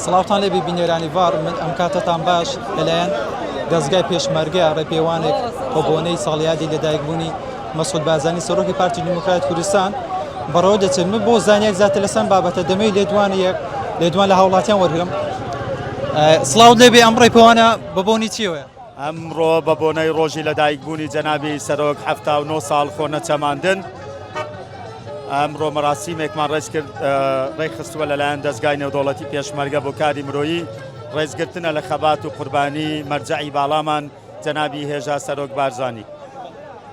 سڵاوتان لێبی بینێرانی ڤاڕ من ئەم کاتەتان باش لەلایەن دەزگای پێشمەرگە ڕێپێوانێک بەبۆنەی ساڵیادی لەدایکبوونی مەسعود بازانی سەرۆکی پارتی دیموکرات کوردستان بەڕەوە دەچێت من بۆ زانیاری زیاتر لەسەم بابەتە دەمەی لێدوانی یەک لێدوان لە هاوڵاتیان وەرگرم سڵاو لێبێ ئەم ڕێپێوانە بەبۆنی چیەوەە ئەمڕۆ بە بۆنەی ڕۆژی لەدایکبوونی جەنابی سەرۆک حەفتا و نۆ ساڵ خۆ نەچەماندن ئەمڕۆ مەراسیمێکمان ڕێز کرد ڕێکخستووە لەلایەن دەستگای نێودەوڵەتی پێشمەرگە بۆ کاری مرۆیی ڕێزگرتنە لە خەبات و قوربانی مەرجەعی باڵامان جەنابی هێژا سەرۆک بارزانی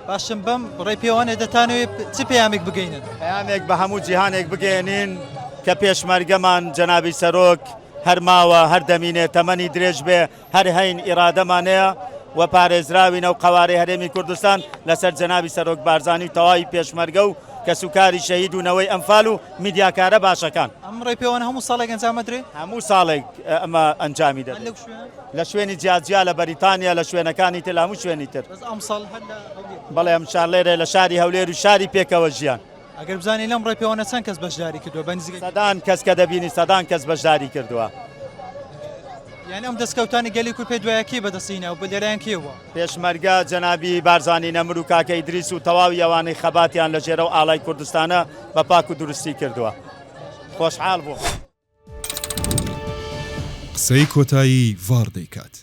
باشم بەم ڕێ پێوانێ دەتانەوێت چ پەیامێک بگەینن پەیامێک بە هەموو جیهانێک بگەێنین کە پێشمەرگەمان جەنابی سەرۆک هەرماوە هەردەمینێ تەمەنی درێژ بێ هەر هەین ئیرادەمانەیە و پارێزراوین ئەو قەوارەی هەرێمی کوردستان لەسەر جەنابی سەرۆک بارزانی و تەواوی پێشمەرگە و کەسوکاری شەهید و نەوەی ئەنفال و میدیاکارە باشەکان. ئەم ڕێپێوانە هەموو ساڵێک ئەنجام ئەدرێ؟ هەموو ساڵێک ئەمە ئەنجامی دەدەین. هەر لەو شوێنە؟ لە شوێنی جیاجیا لە بەریتانیا، لە شوێنەکانی تر، لە هەموو شوێنی تر. بەس ئەمساڵ هەر لە هەولێر؟ بەڵێ ئەمساڵ لێرە لە شاری هەولێر و شاری پێکەوەژیان. ئەگەر بزانین لەم ڕێپێوانە چەند کەس بەشداری کردووە بە نزیکەی. سەدان کەس کە دەبینی سەدان کەس بەشداری کردووە. یانی ئەم دەستکەوتانەی گەلی کورد پێ دوایە کێی بەدەستی هیناوە و لەلایەن کێ بووە؟ پێشمەرگە جەنابی بارزانی نەمر و کاکە ئیدریس و تەواوی ئەوانەی خەباتیان لە ژێر ئەو ئاڵای کوردستانە بە پاک و دروستی کردووە. خۆشحاڵ بووم. قسەی کۆتایی ڤاڕ دەیکات.